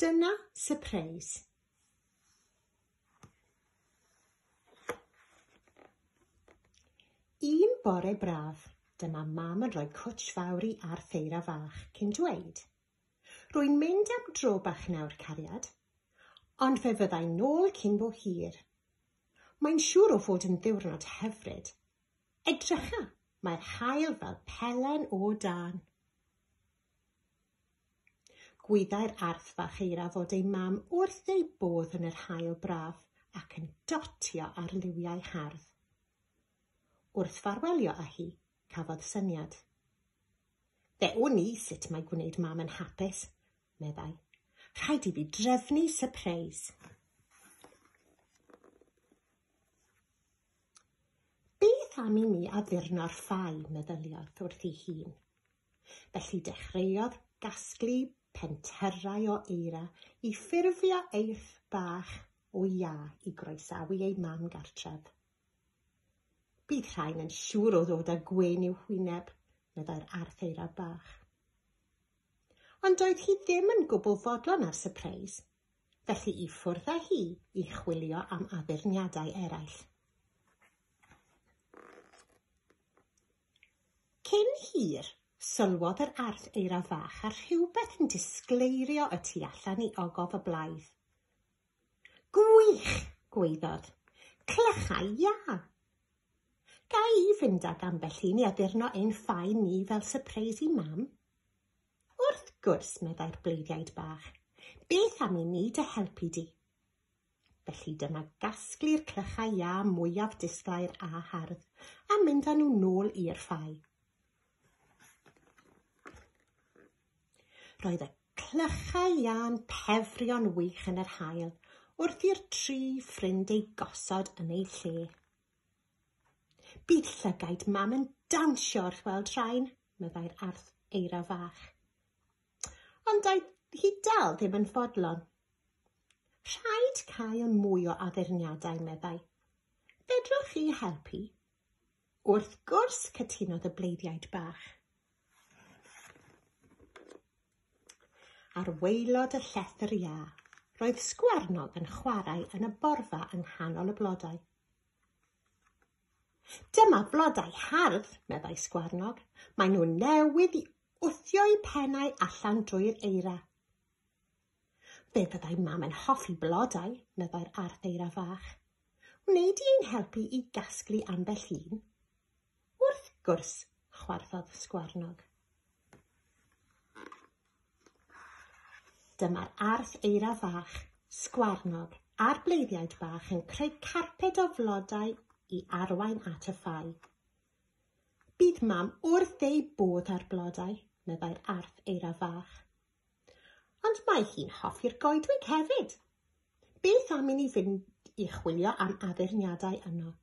Dyna sypreis. Un bore braf, dyma mam yn rhoi cwtsh fawr i ar ffeira fach cyn dweud, Rwy'n mynd am dro bach nawr, cariad, ond fe fyddai nôl cyn bo hir. Mae'n siŵr o fod yn ddiwrnod hyfryd. Edrycha, mae'r haul fel pelen o dân. Gwyddai'r arth fach eira fod ei mam wrth ei bodd yn yr haul braf ac yn dotio ar liwiau hardd. Wrth farwelio â hi, cafodd syniad. Fe wn i sut mae gwneud mam yn hapus, meddai. Rhaid i fi drefnu sypreis. Beth am i mi addurno'r ffau, meddyliodd wrth ei hun. Felly dechreuodd gasglu pentyrrau o eira i ffurfio eirth bach o iâ i groesawu ei mam gartref. Bydd rhain yn siŵr o ddod â gwên i'w hwyneb, meddai'r arth eira bach. Ond doedd hi ddim yn gwbl fodlon ar sypreis, felly i ffwrdd â hi i chwilio am addurniadau eraill. Cyn hir, sylwodd yr arth eira fach ar rhywbeth yn disgleirio y tu allan i ogof y blaidd. Gwych! gwaeddodd. Clychau iâ! Ga i fynd ag ambell un i addurno ein ffaen ni fel sypreis i mam? Wrth gwrs, meddai'r bleiddiaid bach. Beth am i ni dy helpu di? Felly dyna gasglu'r clychau iâ mwyaf disglair a hardd, a mynd â nhw nôl i'r ffau. Roedd y clychau iâ'n pefrio'n wych yn yr hael, wrth i'r tri ffrind ei gosod yn ei lle. Bydd llygaid mam yn dawnsio wrth weld rhain, meddai'r arth eira fach. Ond doedd hi dal ddim yn fodlon. Rhaid cael mwy o addurniadau, meddai. Fedrwch chi helpu? Wrth gwrs, cytunodd y bleiddiaid bach. Ar waelod y llethr ia, roedd sgwarnog yn chwarae yn y borfa yng nghanol y blodau. Dyma blodau hardd, meddai Sgwarnog. Maen nhw newydd i wthio'u pennau allan drwy'r eira. Fe fyddai mam yn hoffi blodau, meddai'r arth eira fach. Wneud i ein helpu i gasglu ambell un? Wrth gwrs, chwarthodd Sgwarnog. Dyma'r arth eira fach, sgwarnog, a'r bleiddiaid bach yn creu carped o flodau i arwain at y ffau. Bydd mam wrth ei bodd â'r blodau, meddai'r arth eira fach. Ond mae hi'n hoffi'r goedwig hefyd. Beth am i ni fynd i chwilio am addurniadau yno?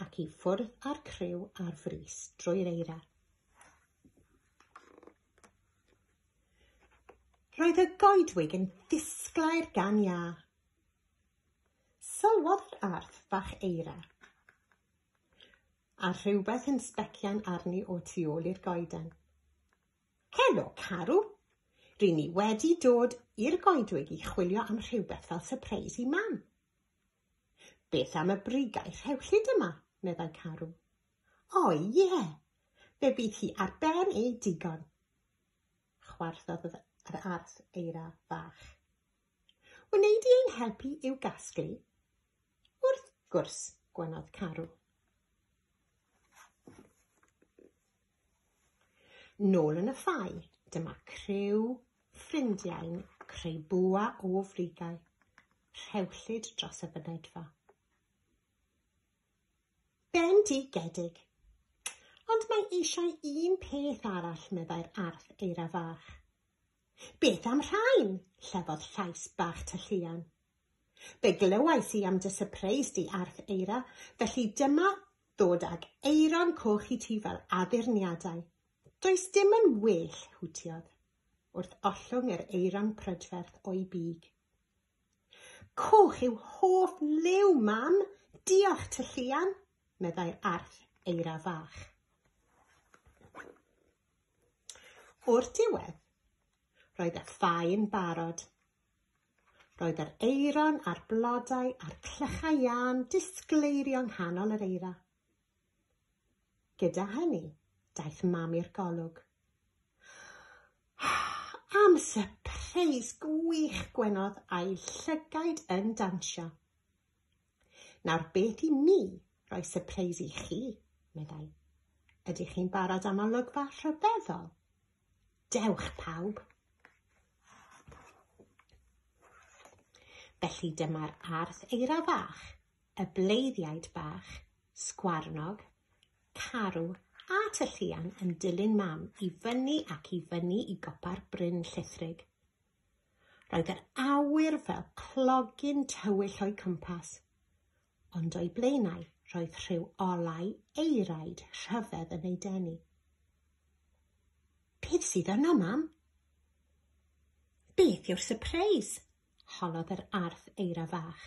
ac i ffwrdd â'r criw ar frys drwy'r eira. Roedd y goedwig yn disglair gan iâ. Sylwodd yr arth fach eira a rhywbeth yn sbecian arni o tu ôl i'r goeden. Helo, Carw! Ry ni wedi dod i'r goedwig i chwilio am rhywbeth fel surprise i mam. Beth am y brigau rhewllyd yma, meddai Carw. O ie, fe fydd hi ar ben ei digon. Chwarddodd yr arth eira fach. Wneud i ein helpu i'w gasglu? Wrth gwrs, gwenodd Carw. Nôl yn y ffau, dyma criw ffrindiau'n creu bwa o frigau, rhewllyd dros y fynedfa. Bendigedig! Ond mae eisiau un peth arall, meddai'r arth eira fach. Beth am rhain? llefodd llais bach tylluan. Fe glywais i am dy sypreis di, Arth Eira, felly dyma ddod ag Eiron Coch i ti fel addurniadau. Does dim yn well, hwtiodd, wrth ollwng yr Eiron prydferth o'i big. Coch yw hoff liw, mam! Diolch, tylluan! meddai'r Arth Eira fach. O'r diwedd, roedd y ffaen barod. Roedd yr eiron a'r blodau a'r clychau iân disgleirio nghanol yr eira. Gyda hynny, daeth mam i'r golwg. Am sypreis gwych gwenodd a'i llygaid yn dansio. Nawr beth i ni roi sypreis i chi, meddai. Ydych chi'n barod am olygfa rhyfeddol? Dewch pawb! Felly dyma'r arth eira fach, y bleiddiaid bach, sgwarnog, carw a tylluan yn dilyn mam i fyny ac i fyny i gopa'r bryn llithrig. Roedd yr awyr fel clogyn tywyll o'i cwmpas, ond o'i blaenau roedd rhyw olau eiraid rhyfedd yn ei denu. Beth sydd yno, mam? Beth yw'r sypreis? holodd yr arth eira fach.